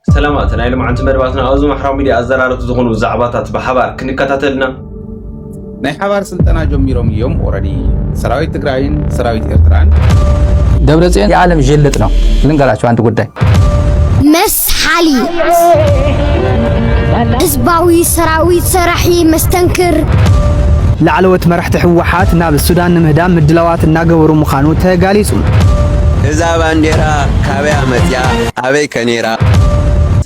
ሰላማት ናይ ሎምዓንቲ መደባትና ኣብዚ ማሕራዊ ሚድያ ኣዘራረብቲ ዝኾኑ ዛዕባታት ብሓባር ክንከታተል ኢና። ናይ ሓባር ስልጠና ጀሚሮም እዮም ኦረዲ ሰራዊት ትግራይን ሰራዊት ኤርትራን ደብረጽዮን የዓለም ዥልጥ ነው። ልንገራቸው አንድ ጉዳይ መስሓሊ ህዝባዊ ሰራዊት ሰራሒ መስተንክር ላዕለዎት መራሕቲ ህወሓት ናብ ሱዳን ንምህዳም ምድላዋት እናገበሩ ምዃኑ ተጋሊጹ። እዛ ባንዴራ ካበያ መፅያ ኣበይ ከ ነይራ?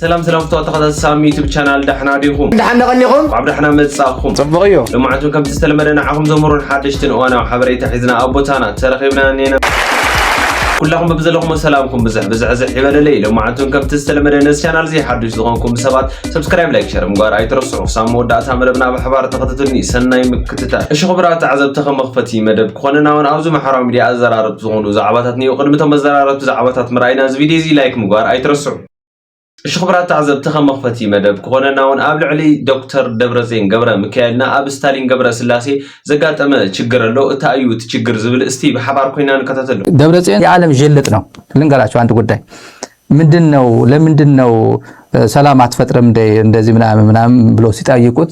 ሰላም ሰላም ፍትዋት ተኸታተልቲ ሳሚ ዩቱብ ቻናል ዳሕና ዲኹም ዳሕና ቀኒኹም እንኳዕ ዳሕና መጻእኩም ጽቡቕ እዩ ልምዓት እውን ከምቲ ዝተለመደ ንዓኹም ዘምህሩን ሓደሽትን እዋናዊ ሓበሬታ ሒዝና ኣብ ቦታና ተረኺብና እኒና ኩላኹም በብዘለኹም ሰላምኩም ብዝሕ ብዝሕዝሕ ይበለለይ ልምዓት እውን ከምቲ ዝተለመደ ነዚ ቻናል እዚ ሓዱሽ ዝኾንኩም ሰባት ሰብስክራይብ ላይክ ሸር ምግባር ኣይትረስዑ ክሳብ መወዳእታ መደብና ብሓባር ተኸታተሉኒ ሰናይ ምክ ትታ እሺ ክቡራት ተዓዘብቲ ከም መኽፈቲ መደብ ክኾነና ውን ኣብዚ ማሕበራዊ ሚድያ ኣዘራረብቲ ዝኾኑ ዛዕባታት ንየው ቅድሚ እቶም መዘራረብቲ ዛዕባታት ምርኣይና እዚ ቪድዮ እዚ ላይክ ምግባር ኣይትረስዑ እሺ ክቡራት ተዓዘብቲ ከም መኽፈቲ መደብ ክኾነና ውን ኣብ ልዕሊ ዶክተር ደብረጼን ገብረ ምካኤልና ኣብ ስታሊን ገብረ ስላሴ ዘጋጠመ ችግር ኣሎ እታ እዩ እቲ ችግር ዝብል እስቲ ብሓባር ኮይና ንከታተሉ ደብረጼን የዓለም ዥልጥ ነው ልንገራቸው አንድ ጉዳይ ምንድን ነው ለምንድን ነው ሰላም አትፈጥርም እንደዚህ ምናምን ምናምን ብሎ ሲጠይቁት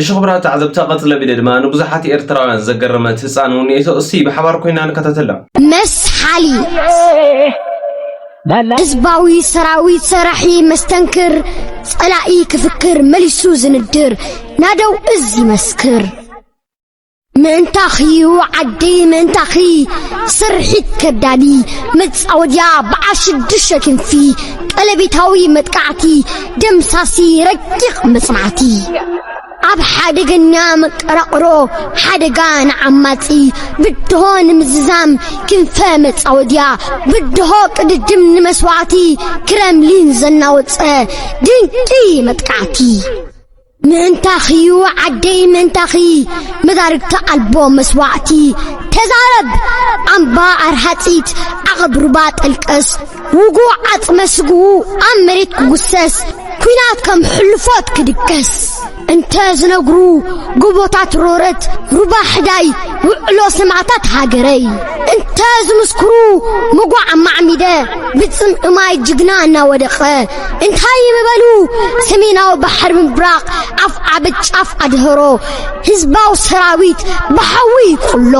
እሺ ክቡራት ተዓዘብቲ ቀፅለ ቢለ ድማ ንብዙሓት ኤርትራውያን ዘገረመት ህፃን እውን እቶ እስቲ ብሓባር ኮይና ንከታተላ መስሓሊ ህዝባዊ ሰራዊት ሰራሒ መስተንክር ጸላኢ ክፍክር መሊሱ ዝንድር ናደው እዝ ይመስክር ምእንታኺ ዓደይ ምእንታኺ ስርሒት ከዳሊ መጻወድያ በዓል ሽዱሽተ ክንፊ ቀለቤታዊ መጥቃዕቲ ደምሳሲ ረቂቕ መጽናዕቲ ኣብ ሓደገኛ መቀራቕሮ ሓደጋ ንዓማጺ ብድሆ ንምዝዛም ክንፈ መጻወድያ ብድሆ ቅድድም ንመስዋዕቲ ክረምሊን ዘናወጸ ድንቂ መጥቃዕቲ ምእንታኺዩ ዓደይ ምእንታኺ መዳርግቲ ኣልቦ መስዋዕቲ ተዛረብ ኣምባ ኣርሃጺት ዓቐብ ሩባ ጠልቀስ ውጉእ ዓጽመ ስግኡ ኣብ መሬት ክጉሰስ ኲናት ከም ሕልፎት ክድቀስ እንተ ዝነግሩ ጎቦታት ሮረት ሩባ ሕዳይ ውዕሎ ሰማዕታት ሃገረይ እንተ ዝምስክሩ መጓዕ ማዕሚደ ብጽምዒ ማይ ጅግና እናወደቐ እንታይ ምበሉ ሰሜናዊ ባሕሪ ምብራቕ ኣፍ ዓብ ጫፍ ኣድህሮ ህዝባዊ ሰራዊት ብሓዊ ይቁሎ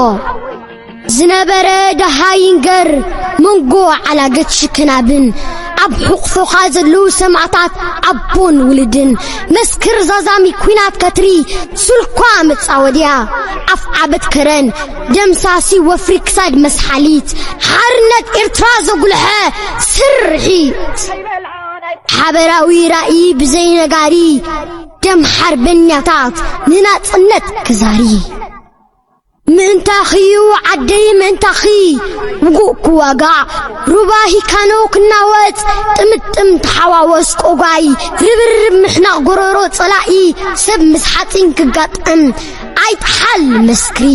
ዝነበረ ደሃይንገር መንጎ ዓላገት ሽክናብን ኣብ ሕቑፎኻ ዘለዉ ሰማዕታት ኣቦን ውልድን መስክር ዛዛሚ ኲናት ከትሪ ሱልኳ መጻወድያ ኣፍ ዓበት ከረን ደምሳሲ ወፍሪ ክሳድ መስሓሊት ሓርነት ኤርትራ ዘጉልሐ ስርሒት ሓበራዊ ራእይ ብዘይነጋሪ ደም ሓርበኛታት ንናጽነት ክዛሪ ምእንታኺዩ ዓደይ ምእንታኺ ውጉእ ክዋጋዕ ሩባ ሂካኖ ክናወጽ ጥምጥም ተሓዋወስ ቆጓይ ርብርብ ምሕናቕ ጎረሮ ጸላኢ ሰብ ምስ ሓጺን ክጋጠም ኣይጥሓል መስክሪ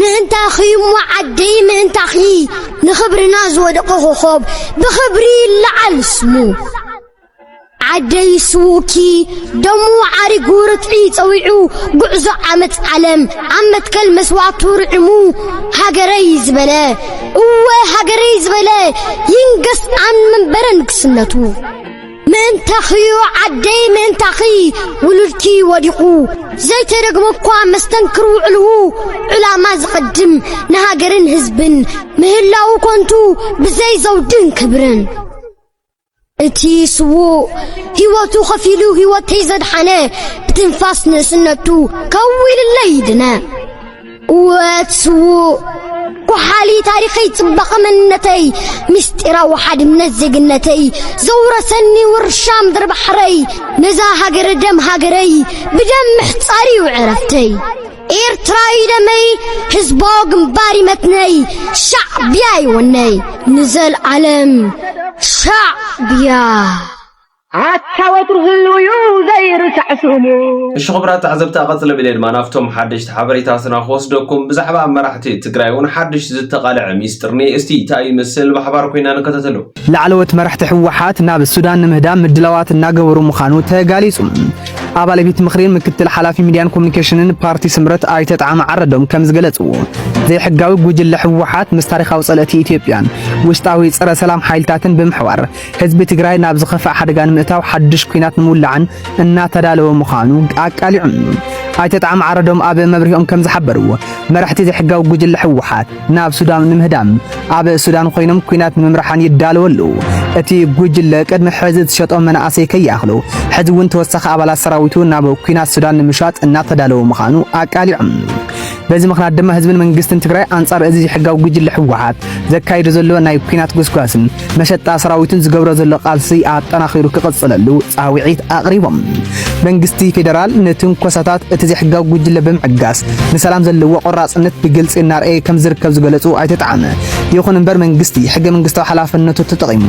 ምእንታኺ እሞ ዓደይ ምእንታኺ ንኽብርና ዝወደቐ ኮኾብ ብኽብሪ ይለዓል ስሙ ዓደይ ስውኪ ደሙ ዓሪጉ ርትዒ ጸዊዑ ጉዕዞ ዓመት ዓለም ኣብ መትከል መስዋዕቱ ርዕሙ ሃገረይ ዝበለ እወ ሃገረይ ዝበለ ይንገስ ኣን መንበረ ንግስነቱ ምእንታኺ'ዩ ዓደይ ምእንታኺ ውሉድኪ ወዲቑ ዘይተደግሞ እኳ መስተንክር ውዕልኡ ዕላማ ዝቐድም ንሃገርን ህዝብን ምህላው ኮንቱ ብዘይ ዘውድን ክብርን እቲ ስዉእ ህይወቱ ኸፊሉ ህይወተይ ዘድሓነ ብትንፋስ ንእስነቱ ከዊልለይ ይድነ ወትስውእ ጓሓሊ ታሪኸይ ጽባቐ መንነተይ ምስጢራዊ ሓድነት ዜግነተይ ዘውረሰኒ ውርሻ ምድሪ ባሕረይ ነዛ ሃገረ ደም ሃገረይ ብደም ምሕጻር እዩ ዕረፍተይ ኤርትራዊ ደመይ ህዝባዊ ግንባር ይመትነይ ሻዕብያ ይወነይ ንዘልዓለም ሻዕብያ ኣታ ወትሩ ህልው ዩ ዘይርሳዕ ስሙ። እሺ ኹብራት ተዓዘብቲ ኣቀጽለ ብለ ድማ ናብቶም ሓደሽቲ ሓበሬታትና ክወስደኩም ብዛዕባ መራሕቲ ትግራይ ውን ሓድሽ ዝተቃለዐ ሚስጥር እኔ እስቲ ታይ ይመስል ብሓባር ኮይና ንከታተሎ። ላዕለዎት መራሕቲ ህወሓት ናብ ሱዳን ንምህዳም ምድላዋት እናገበሩ ምዃኑ ተጋሊፁ። ኣባል ቤት ምኽሪን ምክትል ሓላፊ ሚድያን ኮሚኒኬሽንን ፓርቲ ስምረት ኣይተ ጣዕመ ዓረዶም ከም ዝገለፅዎ ዘይሕጋዊ ጉጅለ ህወሓት ምስ ታሪኻዊ ፀለእቲ ኢትዮጵያን ውሽጣዊ ፀረ ሰላም ሓይልታትን ብምሕባር ህዝቢ ትግራይ ናብ ዝኸፍኣ ሓደጋ ንምእታው ሓድሽ ኲናት ንምውላዕን እናተዳለወ ምዃኑ ኣቃሊዑን። ኣይተ ጣዕሚ ዓረዶም ኣብ መብርሂኦም ከም ዝሓበርዎ መራሕቲ ዘይሕጋዊ ጉጅለ ህወሓት ናብ ሱዳን ንምህዳም ኣብ ሱዳን ኮይኖም ኲናት ንምምራሓን ይዳለዉ ኣለዉ። እቲ ጉጅለ ቅድሚ ሕዚ ዝሸጦ መናእሰይ ከይኣኽሉ ሕዚ እውን ተወሳኺ ኣባላት ሰራዊቱ ናብ ኩናት ሱዳን ንምሻጥ እናተዳለወ ምዃኑ ኣቃሊዖም። በዚ ምኽንያት ድማ ህዝብን መንግስትን ትግራይ ኣንጻር እዚ ዘይሕጋዊ ጉጅለ ህወሓት ዘካይዶ ዘሎ ናይ ኲናት ጎስጓስን መሸጣ ሰራዊትን ዝገብሮ ዘሎ ቃልሲ ኣጠናኺሩ ክቕጽለሉ ጻውዒት ኣቕሪቦም። መንግስቲ ፌደራል ንትንኮሳታት እቲ ዘይሕጋዊ ጉጅለ ብምዕጋስ ንሰላም ዘለዎ ቆራጽነት ብግልጺ እናርኣየ ከም ዝርከብ ዝገለጹ ኣይተ ጣዕመ፣ ይኹን እምበር መንግስቲ ሕገ መንግስታዊ ሓላፍነቱ ተጠቒሙ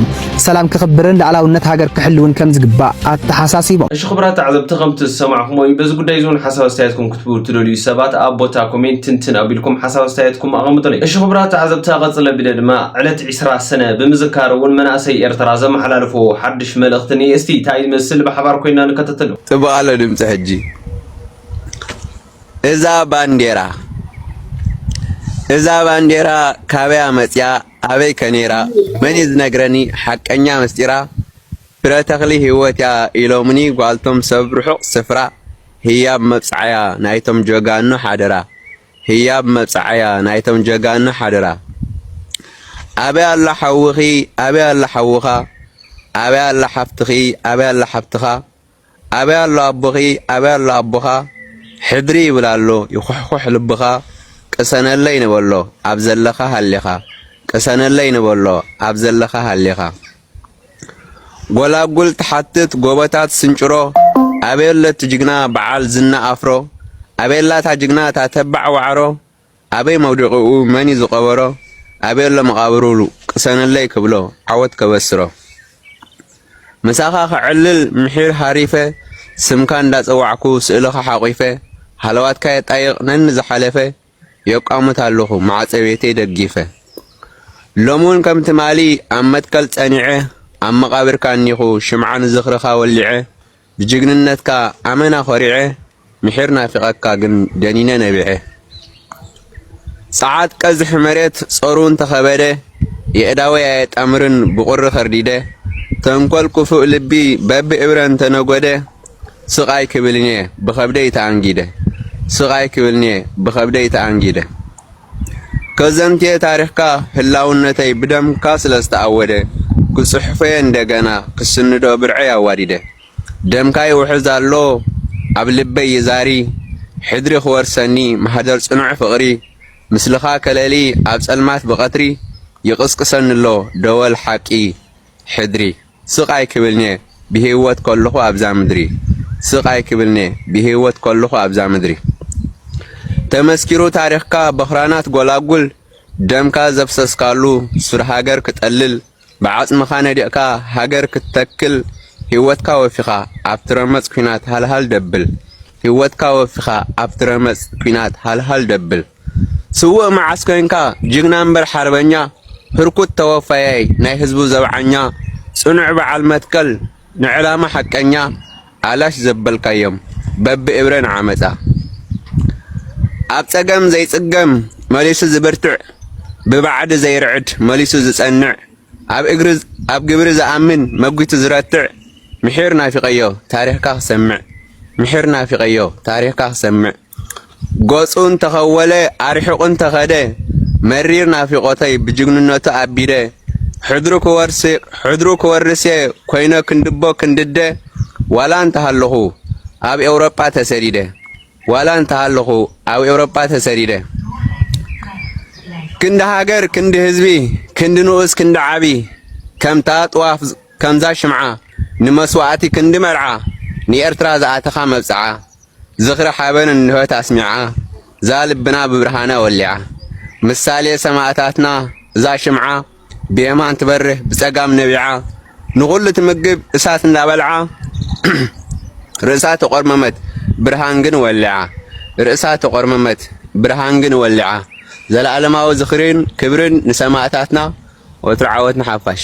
ሰላም ክኽብርን ላዕላውነት ሃገር ክሕልውን ከም ዝግባእ ኣተሓሳሲቦም። እሺ ክቡራት ተዓዘብቲ ከምቲ ዝሰማዕኹምዎ እዩ በዚ ጉዳይ እዚ እውን ሓሳብ ኣስተያየትኩም ክትብሉ ትደልዩ ሰባት ኣብ ቦታ ኮሜንት ትንትን ኣቢልኩም ሓሳብ ኣስተያየትኩም ኣቐምጡለይ። እሺ ክቡራት ተዓዘብቲ ቀጽለ ቢለ ድማ ዕለት ዕስራ ሰነ ብምዝካር እውን መናእሰይ ኤርትራ ዘመሓላልፍዎ ሓድሽ መልእኽቲ እንኤ እስቲ ታይ ይመስል ብሓባር ኮይንና ንከታተሎ። ጽቡቕ ኣሎ ድምጺ ሕጂ እዛ ባንዴራ እዛ ባንዴራ ካበያ መጽያ ኣበይ ከ ነይራ መን እዩ ዝነግረኒ ሓቀኛ ምስጢራ ፍረ ተኽሊ ህይወት'ያ ኢሎምኒ ጓልቶም ሰብ ርሑቕ ስፍራ ህያብ መብጽዓ'ያ ናይቶም ጀጋኑ ሓደራ ህያብ መብጽዓ'ያ ናይቶም ጀጋኑ ሓደራ ኣበይ ኣሎ ሓውኺ ኣበይ ኣሎ ሓውኻ ኣበይ ኣላ ሓፍትኺ ኣበይ ኣላ ሓብትኻ ኣበይ ኣሎ ኣቦኺ ኣበይ ኣሎ ኣቦኻ ሕድሪ ይብል ኣሎ ይኹሕኹሕ ልብኻ ቅሰነለይ ንበሎ ኣብ ዘለኻ ሃሊኻ ቅሰነለይ ንበሎ ኣብ ዘለኻ ሃሊኻ ጎላጉል ትሓትት ጎቦታት ስንጭሮ ኣበይ ኣሎ እቲ ጅግና በዓል ዝና ኣፍሮ ኣበይ ኣላ እታ ጅግና እታ ተባዕ ዋዕሮ ኣበይ መውድቅኡ መን ዩ ዝቀበሮ ኣበይ ኣሎ መቃብሩ ቅሰነለይ ክብሎ ዓወት ከበስሮ ምሳኻ ከዕልል ምሒር ሃሪፈ ስምካ እንዳጸዋዕኩ ስእልኻ ሓቂፈ ሃለዋትካ የጣይቅ ነንዝሓለፈ የቋምት ኣለኹ ማዕጸቤተይ ደጊፈ ሎሚ ውን ከም ትማሊ ኣብ መትከል ጸኒዐ ኣብ መቃብርካ እኒኹ ሽምዓ ንዝኽርኻ ወሊዐ ብጅግንነትካ ኣመና ኮሪዐ ምሒር ናፊቀካ ግን ደኒነ ነቢዐ ጸዓት ቀዝሒ መሬት ጾሩ እንተከበደ የእዳወይ ኣየጣምርን ብቁሪ ከርዲደ ተንኮል ኩፉእ ልቢ በቢ እብረ እንተነጎደ ስቅ ኣይክብልንየ ብከብደይ ተኣንጊደ ስቅ ኣይክብልንየ ብከብደይ ተኣንጊደ ከዘንትየ ታሪኽካ ህላውነተይ ብደምካ ስለ ዝተኣወደ ክጽሕፎ'የ እንደገና ክስንዶ ብርዐይ ኣዋዲደ ደምካ ይውሕዝ ኣሎ ኣብ ልበይ ይዛሪ ሕድሪ ክወርሰኒ ማህደር ጽኑዕ ፍቕሪ ምስልኻ ከለሊ ኣብ ጸልማት ብቐትሪ ይቕስቅሰኒ'ሎ ደወል ሓቂ ሕድሪ ስቅ ኣይክብልንየ ብሂወት ከለኩ ኣብዛ ምድሪ ስቅ ኣይክብልንየ ብሂወት ከለኩ ኣብዛ ምድሪ ተመስኪሩ ታሪክካ በክራናት ጎላጉል ደምካ ዘፍሰስካሉ ሱር ሃገር ክጠልል ብዓጽምካ ነዲቅካ ሃገር ክትተክል ሂወትካ ወፊካ ኣብቲ ረመጽ ኩናት ሃልሃል ደብል ሂወትካ ወፊካ ኣብቲ ረመጽ ኩናት ሃልሃል ደብል ስውእ መዓስ ኮንካ ጅግና እምበር ሓርበኛ ህርኩት ተወፋያይ ናይ ህዝቡ ዘብዓኛ ጽኑዕ በዓል መትከል ንዕላማ ሓቀኛ ኣላሽ ዘበልካዮም በቢ እብረ ንዓመጻ ኣብ ጸገም ዘይጽገም መሊሱ ዝብርትዕ ብባዕዲ ዘይርዕድ መሊሱ ዝጸንዕ ኣብ እግሪ ኣብ ግብሪ ዝኣምን መጒቱ ዝረትዕ ምሒር ናፊቐዮ ታሪኽካ ክሰምዕ ምሒር ናፊቐዮ ታሪኽካ ክሰምዕ ገጹ እንተ ኸወለ ኣርሒቑ እንተ ኸደ መሪር ናፊቖተይ ብጅግንነቱ ኣቢደ ሕድሩ ክወርስ ሕድሩ ክወርስ'የ ኮይነ ክንድቦ ክንድደ ዋላ እንተ ሃለኹ ኣብ ኤውሮጳ ተሰዲደ ዋላ እንተ ሃለኹ ኣብ ኤውሮጳ ተሰዲደ ክንዲ ሃገር ክንዲ ህዝቢ ክንዲ ንኡስ ክንዲ ዓቢ ከምታ ጥዋፍ ከምዛ ሽምዓ ንመስዋእቲ ክንዲ መርዓ ንኤርትራ ዝኣተኻ መብጽዓ ዝኽሪ ሓበን እንሆት ኣስሚዓ እዛ ልብና ብብርሃና ወሊዓ ምሳሌ ሰማእታትና እዛ ሽምዓ ብየማን ትበርህ ብጸጋም ነቢዓ ንኹሉ ትምግብ እሳት እንዳበልዓ ርእሳ ተቖርመመት ብርሃን ግን ወሊዓ ርእሳ ተቖርመመት ብርሃን ግን ወሊዓ ዘለኣለማዊ ዝኽርን ክብርን ንሰማእታትና ወትሩ ዓወት ንሓፋሽ።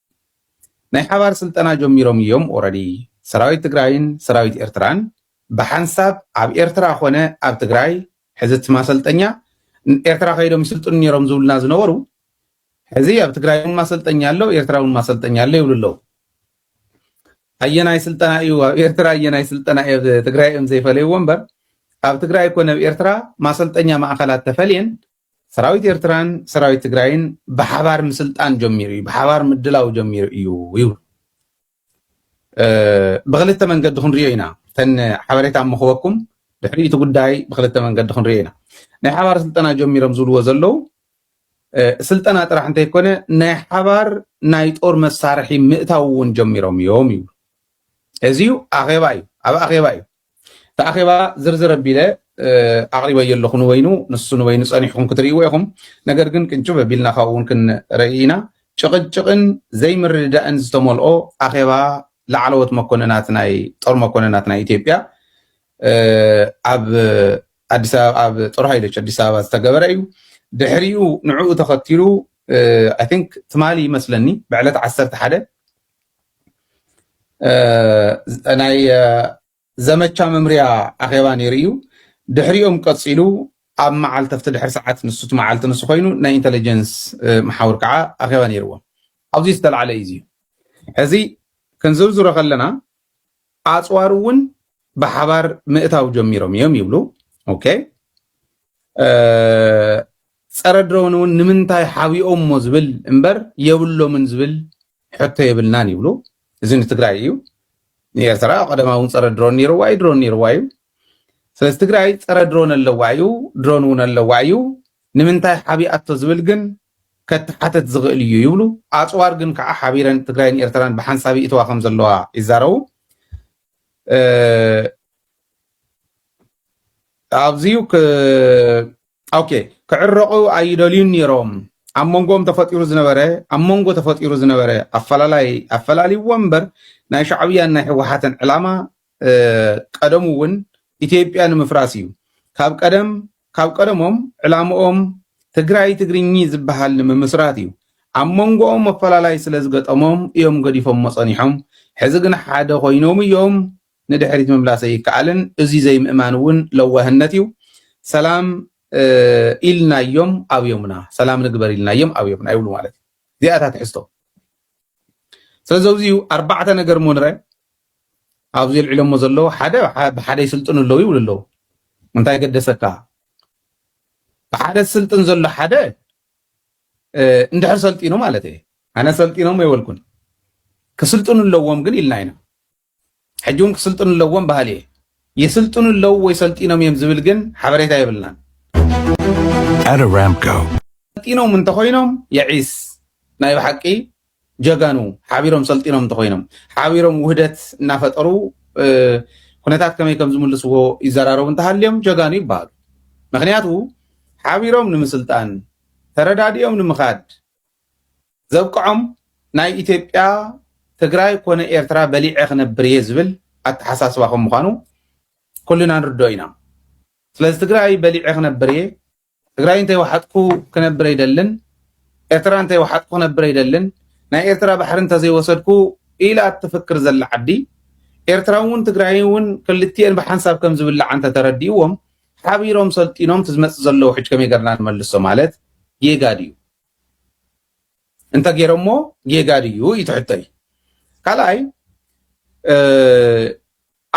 ናይ ሓባር ስልጠና ጀሚሮም እዮም ኦረዲ ሰራዊት ትግራይን ሰራዊት ኤርትራን ብሓንሳብ ኣብ ኤርትራ ኮነ ኣብ ትግራይ ሕዚ እቲ ማሰልጠኛ ኤርትራ ከይዶም ይስልጥኑ ነይሮም ዝብሉና ዝነበሩ ሕዚ ኣብ ትግራይ እውን ማሰልጠኛ ኣሎ ኤርትራ እውን ማሰልጠኛ ኣሎ ይብሉ ኣለዉ ኣየናይ ስልጠና እዩ ኣብ ኤርትራ ኣየናይ ስልጠና እዩ ኣብ ትግራይ እዮም ዘይፈለይዎ እምበር ኣብ ትግራይ ኮነ ኣብ ኤርትራ ማሰልጠኛ ማእኸላት ተፈልየን ሰራዊት ኤርትራን ሰራዊት ትግራይን ብሓባር ምስልጣን ጀሚሩ እዩ፣ ብሓባር ምድላው ጀሚሩ እዩ ይብሉ። ብክልተ መንገዲ ክንሪኦ ኢና፣ ተን ሓበሬታ ምክበኩም ድሕሪ እቲ ጉዳይ ብክልተ መንገዲ ክንሪኦ ኢና። ናይ ሓባር ስልጠና ጀሚሮም ዝብልዎ ዘለው ስልጠና ጥራሕ እንተይኮነ ናይ ሓባር ናይ ጦር መሳርሒ ምእታው እውን ጀሚሮም እዮም ይብሉ። እዚ ኣኼባ እዩ፣ ኣብ ኣኼባ እዩ። እቲ ኣኼባ ዝርዝር ኣቢለ ኣቕሪበዮ ኣለኹ ንበይኑ ንሱ ንበይኑ ጸኒሕኩም ክትርእይዎ ኢኹም ነገር ግን ቅንጭብ ኣቢልና ካብኡ እውን ክንርኢ ኢና ጭቕጭቕን ዘይምርድዳእን ዝተመልኦ ኣኼባ ላዕለዎት መኮንናት ናይ ጦር መኮንናት ናይ ኢትዮጵያ ኣብ ኣዲስ ኣበባ ኣብ ጦር ሃይሎች ኣዲስ ኣበባ ዝተገበረ እዩ ድሕሪኡ ንዕኡ ተኸቲሉ ኣይ ቲንክ ትማሊ ይመስለኒ ብዕለት ዓሰርተ ሓደ ናይ ዘመቻ መምርያ ኣኼባ ነይሩ እዩ ድሕሪኦም ቀፂሉ ኣብ መዓልቲ ኣብቲ ድሕሪ ሰዓት ንሱ እቲ መዓልቲ ንሱ ኮይኑ ናይ ኢንተለጀንስ መሓውር ከዓ ኣኼባ ነይርዎም ኣብዚ ዝተላዕለ እዩ እዩ ሕዚ ክንዝርዝሮ ከለና ኣፅዋር እውን ብሓባር ምእታው ጀሚሮም እዮም ይብሉ ኦኬ ፀረ ድሮን እውን ንምንታይ ሓቢኦሞ ዝብል እምበር የብሎምን ዝብል ሕቶ የብልናን ይብሉ እዚ ንትግራይ እዩ ንኤርትራ ቀደማ እውን ፀረ ድሮን ነይርዋ እዩ ድሮን ነይርዋ እዩ ስለዚ ትግራይ ፀረ ድሮን ኣለዋ እዩ ድሮን እውን ኣለዋ እዩ ንምንታይ ሓቢኣቶ ዝብል ግን ከትሓተት ዝኽእል እዩ ይብሉ ኣፅዋር ግን ከዓ ሓቢረን ትግራይን ኤርትራን ብሓንሳብ ይእትዋ ከም ዘለዋ ይዛረቡ ኣብዚዩ ኦኬ ክዕረቑ ኣይደልዩን ነይሮም ኣብ መንጎኦም ተፈጢሩ ዝነበረ ኣብ መንጎ ተፈጢሩ ዝነበረ ኣፈላላይ ኣፈላልይዎ እምበር ናይ ሻዕብያን ናይ ህወሓትን ዕላማ ቀደሙ እውን ኢትዮጵያ ንምፍራስ እዩ ካብ ቀደም ካብ ቀደሞም ዕላምኦም ትግራይ ትግርኚ ዝበሃል ንምምስራት እዩ ኣብ መንጎኦም መፈላለይ ስለ ዝገጠሞም እዮም ገዲፎሞ ፀኒሖም ሕዚ ግን ሓደ ኮይኖም እዮም ንድሕሪት ምምላስ ዘይከኣልን እዙይ ዘይምእማን እውን ለዋህነት እዩ ሰላም ኢልናዮም ኣብዮምና ሰላም ንግበር ኢልናዮም ኣብዮምና ይብሉ ማለት እዩ እዚኣ እታ ትሕዝቶ ስለዚ ኣብዚ እዩ ኣርባዕተ ነገር እሞ ንረ ኣብዚ የልዕሎሞ ዘለዎ ሓደ ብሓደ ይስልጥኑ ኣለዉ ይብሉ ኣለዉ እንታይ ገደሰካ ብሓደ ዝስልጥን ዘሎ ሓደ እንድሕር ሰልጢኑ ማለት እየ ኣነ ሰልጢኖም የበልኩን ክስልጥኑ ኣለዎም ግን ኢልና ኢና ሕጂ ውን ክስልጥኑ ኣለዎም በሃሊ እየ። ይስልጥኑ ኣለው ወይ ሰልጢኖም እዮም ዝብል ግን ሓበሬታ የብልናን። ሰልጢኖም እንተኾይኖም የዒስ ናይ ብሓቂ ጀጋኑ ሓቢሮም ሰልጢኖም እንተኾይኖም ሓቢሮም ውህደት እናፈጠሩ ኩነታት ከመይ ከም ዝምልስዎ ይዘራረቡ እንተሃልዮም ጀጋኑ ይበሃሉ። ምክንያቱ ሓቢሮም ንምስልጣን ተረዳዲኦም ንምኻድ ዘብቅዖም ናይ ኢትዮጵያ ትግራይ ኮነ ኤርትራ በሊዐ ክነብር እየ ዝብል ኣተሓሳስባ ከም ምዃኑ ኩልና ንርድኦ ኢና። ስለዚ ትግራይ በሊዐ ክነብር እየ፣ ትግራይ እንተይወሓጥኩ ክነብር ኣይደልን፣ ኤርትራ እንተይወሓጥኩ ክነብር ኣይደልን፣ ናይ ኤርትራ ባሕሪ እንተዘይወሰድኩ ኢላ እትፍክር ዘላ ዓዲ ኤርትራ እውን ትግራይ እውን ክልቲኤን ብሓንሳብ ከም ዝብልዓ እንተተረዲእዎም ሓቢሮም ሰልጢኖም ትዝመፅ ዘሎ ውሕጅ ከመይ ገርና ንመልሶ ማለት ጌጋ ድዩ? እንተ ገይረሞ ጌጋ ድዩ እዩ ትሕቶይ። ካልኣይ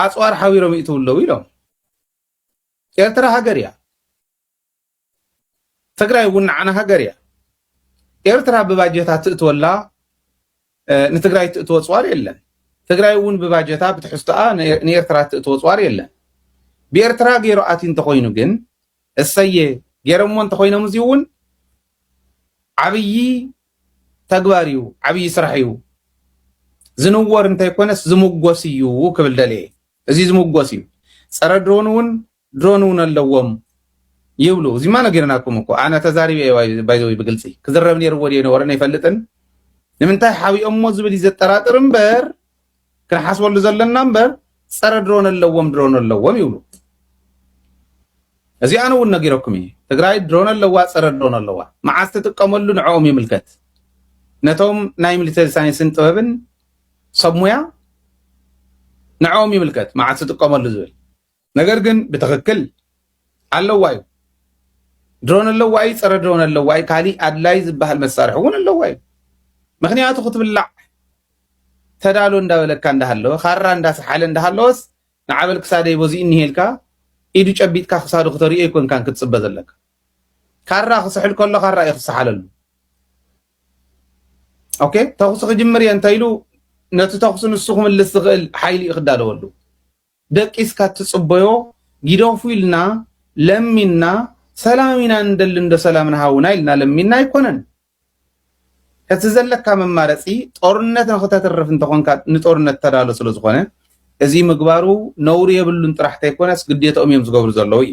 ኣፅዋር ሓቢሮም ይእትው ኣለዉ ኢሎም። ኤርትራ ሃገር እያ። ትግራይ እውን ንዓና ሃገር እያ። ኤርትራ ብባጀታ ትእትወላ ንትግራይ እትእትዎ ኣፅዋር የለን። ትግራይ እውን ብባጀታ ብትሕዝቶኣ ንኤርትራ እትእትዎ ኣፅዋር የለን። ብኤርትራ ገይሩ ኣትዩ እንተኾይኑ ግን እሰየ ገይረሞ እንተኾይኖም እዚ እውን ዓብዪ ተግባር እዩ፣ ዓብዪ ስራሕ እዩ። ዝንወር እንተይኮነስ ዝምጎስ እዩ ክብል ደልየ። እዚ ዝምጎስ እዩ። ፀረ ድሮን እውን ድሮን እውን ኣለዎም ይብሉ እዚማ ነጊርናኩም እኮ ኣነ ተዛሪበ እየ ባይዘወይ ብግልፂ ክዝረብ ነይርዎ ድየ ነበረ ነይፈልጥን ንምንታይ ሓቢኦሞ ዝብል እዩ ዘጠራጥር እምበር ክንሓስበሉ ዘለና እምበር ፀረ ድሮን ኣለዎም ድሮን ኣለዎም ይብሉ እዚ ኣነ እውን ነጊረኩም እዩ ትግራይ ድሮን ኣለዋ ፀረ ድሮን ኣለዋ መዓዝ ትጥቀመሉ ንዕኦም ይምልከት ነቶም ናይ ሚሊተሪ ሳይንስን ጥበብን ሰብ ሙያ ንዕኦም ይምልከት መዓዝ ትጥቀመሉ ዝብል ነገር ግን ብትክክል ኣለዋ እዩ ድሮን ኣለዋ እዩ ፀረ ድሮን ኣለዋ እዩ ካሊእ ኣድላይ ዝበሃል መሳርሒ እውን ኣለዋ እዩ ምክንያቱ ክትብላዕ ተዳሎ እንዳበለካ እንዳሃለወ ካራ እንዳሰሓለ እንዳሃለወስ ንዓበል ክሳደይ በዚ እኒሄልካ ኢዱ ጨቢጥካ ክሳዱ ክተሪኦ ይኮንካን ክትፅበ ዘለካ ካራ ክስሕል ከሎ ካራ እዩ ክሰሓለሉ ኦኬ ተኩሲ ክጅምር እየ እንተኢሉ ነቲ ተኩሲ ንሱ ክምልስ ዝኽእል ሓይሊ እዩ ክዳለወሉ ደቂስካ እትጽበዮ ጊደፉ ኢልና ለሚንና ሰላም ኢና ንደሊ እንዶ ሰላምና ሃቡና ኢልና ለሚንና ኣይኮነን እቲ ዘለካ መማረጺ ጦርነት ንክተትርፍ እንተኾንካ ንጦርነት ተዳሎ ስለ ዝኾነ እዚ ምግባሩ ነውሪ የብሉን ጥራሕ ተይኮነስ ግዴትኦም እዮም ዝገብሩ ዘለዉ እዩ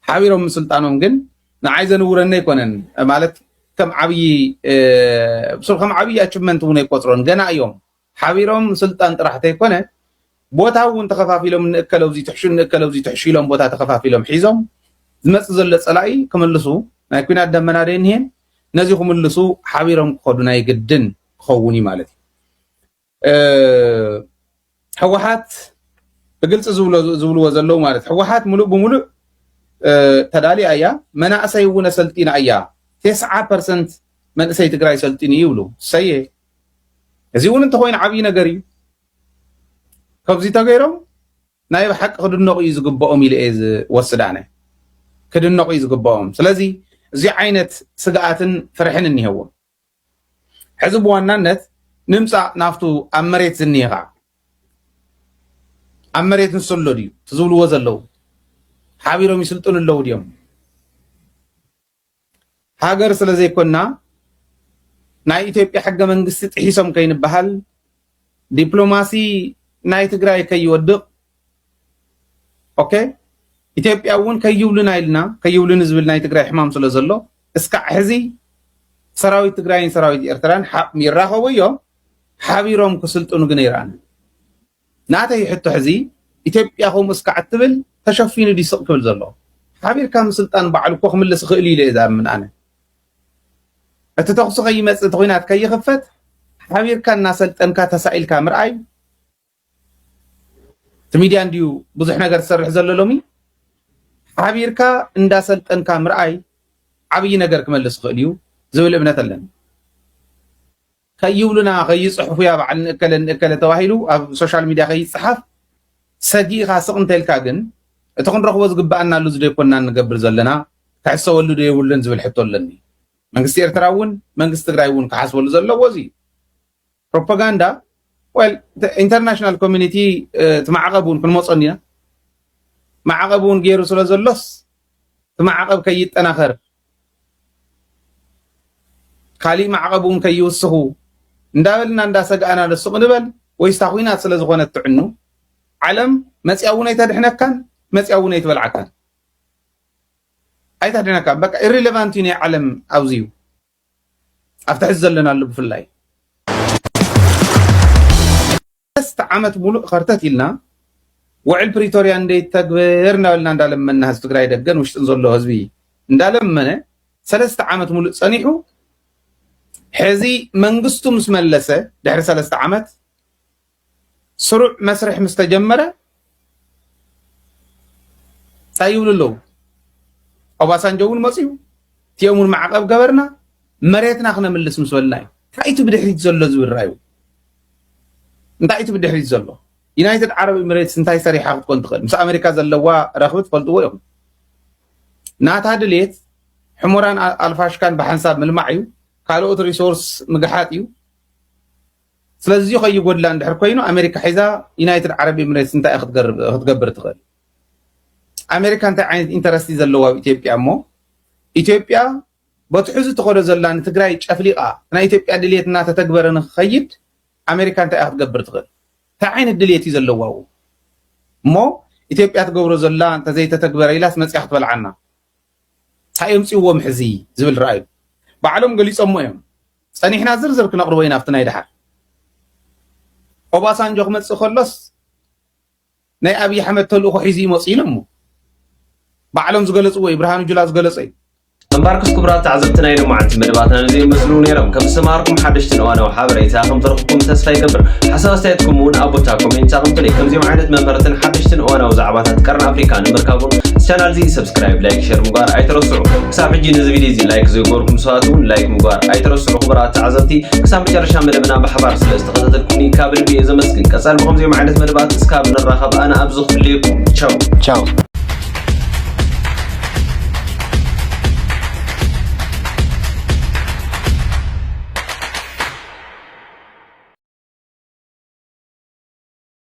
ሓቢሮም ምስልጣኖም ግን ንዓይ ዘንውረኒ ኣይኮነን ማለት ከም ዓብዪ ብሱር ከም ዓብዪ ኣችቭመንት እውን ኣይቆፅሮን ገና እዮም ሓቢሮም ስልጣን ጥራሕ ተይኮነ ቦታ እውን ተኸፋፊሎም ንእከለ እዙይ ትሕሹ ንእከለ እዙይ ትሕሹ ኢሎም ቦታ ተኸፋፊሎም ሒዞም ዝመፅእ ዘሎ ፀላኢ ክምልሱ ናይ ኩናት ደመና ደይንሄን ነዚ ክምልሱ ሓቢሮም ክኸዱ ናይ ግድን ክኸውን እዩ ማለት እዩ ህወሓት ብግልፂ ዝብልዎ ዘለዉ ማለት ህወሓት ሙሉእ ብሙሉእ ተዳልያ እያ መናእሰይ እውን ኣሰልጢና እያ ቴስዓ ፐርሰንት መንእሰይ ትግራይ ሰልጢኑ ይብሉ ሰየ እዚ እውን እንተኾይኑ ዓብዪ ነገር እዩ ካብዚ ተገይሮም ናይ ብሓቂ ክድነቑ እዩ ዝግብኦም ኢለ እየ ዝወስድ ኣነ ክድነቑ እዩ ዝግብኦም ስለዚ እዚ ዓይነት ስግኣትን ፍርሕን እኒሄዎም ሕዚ ብዋናነት ንምፃእ ናብቱ ኣብ መሬት ዝኒሄ ከዓ ኣብ መሬት ንሱ ኣሎ ድዩ እቲ ዝብልዎ ዘለዉ ሓቢሮም ይስልጥኑ ኣለዉ ድዮም ሃገር ስለ ዘይኮና ናይ ኢትዮጵያ ሕገ መንግስቲ ጥሒሶም ከይንበሃል ዲፕሎማሲ ናይ ትግራይ ከይወድቕ ኦኬ ኢትዮጵያ እውን ከይብሉና ኢልና ከይብሉኒ ዝብል ናይ ትግራይ ሕማም ስለ ዘሎ እስካዕ ሕዚ ሰራዊት ትግራይን ሰራዊት ኤርትራን ይራኸቡ እዮም ሓቢሮም ክስልጥኑ ግን ይረኣና ናተይ ሕቶ ሕዚ ኢትዮጵያ ከምኡ እስካዕ እትብል ተሸፊኑ ድዩ ስቅ ክብል ዘሎ ሓቢርካ ምስልጣን ባዕሉ እኮ ክምልስ ይክእልዩ ኢለ እየ ዝኣምን ኣነ እቲ ተኩሲ ከይመፅእ እቲ ኩናት ከይክፈት ሓቢርካ እናሰልጠንካ ተሳኢልካ ምርኣይ እቲ ሚድያ እንድዩ ብዙሕ ነገር ዝሰርሕ ዘሎ ሎሚ ሓቢርካ እንዳሰልጠንካ ምርኣይ ዓብይ ነገር ክመልስ ይክእል እዩ ዝብል እምነት ኣለኒ ከይብሉና ከይጽሕፉያ በዓል ንእከለ ንእከለ ተባሂሉ ኣብ ሶሻል ሚድያ ከይጸሓፍ ሰጊእኻ ስቕ እንተልካ ግን እቲ ክንረኽቦ ዝግበኣና ኣሉ ዝደይኮንና እንገብር ዘለና ክሕሰበሉ ዶ የብሉን ዝብል ሕቶ ኣለኒ መንግስቲ ኤርትራ እውን መንግስቲ ትግራይ እውን ክሓስበሉ ዘለዎ እዚ እዩ ፕሮፓጋንዳ ወል ኢንተርናሽናል ኮሚኒቲ እቲ ማዕቐብ እውን ክንመፆ እንዲና ማዕቐብ እውን ገይሩ ስለ ዘሎስ እቲ ማዕቐብ ከይጠናኸር ካሊእ ማዕቐብ እውን ከይውስኹ እንዳበልና እንዳሰጋእና ዶ ስቕ ንበል ወይስ እታ ኹናት ስለዝኾነት ትዕኑ? ዓለም መፂኣ እውን ኣይተድሕነካን መፂኣ እውን ኣይትበልዓካን ኣይተድሕነካን በቃ ኢሪሌቫንት እዩ ናይ ዓለም ኣብዚ እዩ ኣብቲ ሕዚ ዘለናሉ ብፍላይ ሰለስተ ዓመት ሙሉእ ኸርተት ኢልና ውዕል ፕሪቶርያ እንደ ይተግበር እንዳበልና እንዳለመና ህዝቢ ትግራይ ደገን ውሽጥን ዘሎ ህዝቢ እንዳለመነ ሰለስተ ዓመት ሙሉእ ፀኒሑ ሕዚ መንግስቱ ምስ መለሰ ድሕሪ ሰለስተ ዓመት ስሩዕ መስርሕ ምስ ተጀመረ ታይ ይብሉ ኣለዉ? ኦባሳንጆ እውን መፅዩ እቲኦም እውን ማዕቐብ ገበርና መሬትና ክነምልስ ምስ በልና እዩ። እንታይ እቲ ብድሕሪት ዘሎ ዝብል ራዩ እንታይ እቲ ብድሕሪት ዘሎ ዩናይትድ ዓረብ ኤምሬትስ እንታይ ሰሪሓ ክትኮን ትኽእል? ምስ ኣሜሪካ ዘለዋ ረኽቢ ትፈልጥዎ እዮም። ናታ ድሌት ሕሞራን ኣልፋሽካን ብሓንሳብ ምልማዕ እዩ። ካልኦት ሪሶርስ ምግሓጥ እዩ። ስለዚ ከይጎድላ እንድሕር ኮይኑ ኣሜሪካ ሒዛ ዩናይትድ ዓረብ ኤምሬትስ እንታይ ክትገብር ትኽእል? ኣሜሪካ እንታይ ዓይነት ኢንተረስቲ ዘለዎ ኣብ ኢትዮጵያ እሞ ኢትዮጵያ በቲ ሕዚ ትኸዶ ዘላ ንትግራይ ጨፍሊቓ ናይ ኢትዮጵያ ድልየት እናተተግበረ ንክኸይድ ኣሜሪካ እንታይ እያ ክትገብር ትኽእል? እንታይ ዓይነት ድልየት እዩ ዘለዋ እሞ ኢትዮጵያ ትገብሮ ዘላ እንተዘይተተግበረ ኢላስ መፅያ ክትበልዓና ታይ የምፅዎም ሕዚ ዝብል ረኣዩ ባዕሎም ገሊፆሞ እዮም ፀኒሕና ዝርዝር ክነቅርቦ ኢና ኣብቲ ናይ ደሓር ኦባሳንጆ ክመፅእ ከሎስ ናይ ኣብይ ኣሕመድ ተልእኮ ሒዙ እዩ መፅኡ ኢሎሞ ባዕሎም ዝገለፅዎ እዩ ብርሃኑ ጁላ ዝገለፆ እዩ እምባርክስ ክቡራት ተዓዘብቲ ናይ ሎማዓንቲ መደባትና ነዚኦም መስሉ ነይሮም ከም ዝሰማርኩም ሓደሽትን እዋናዊ ሓበሬታ ከም ተረኽብኩም ተስፋ ይገብር ሓሳብ ኣስተያየትኩም እውን ኣብ ቦታ ኮሜንት ኣቕምጡለይ ከምዚኦም ዓይነት መምረትን ሓደሽትን እዋናዊ ዛዕባታት ቀርኒ ኣፍሪካ ንምርካቡን ቻናል እዚ ሳብስክራይብ ላይክ ሸር ምግባር ኣይትረስዑ ክሳብ ሕጂ ነዚ ቪድዮ እዚ ላይክ ዘይገበርኩም ሰባት እውን ላይክ ምግባር ኣይትረስዑ ክቡራት ተዓዘብቲ ክሳብ መጨረሻ መደብና ብሓባር ስለ ዝተኸታተልኩኒ ካብ ልቢ እየ ዘመስግን ቀፃሊ ብከምዚኦም ዓይነት መደባት እስካብ ንራኸብ ኣነ ኣብዚ ክፍልየኩም ቻው ቻው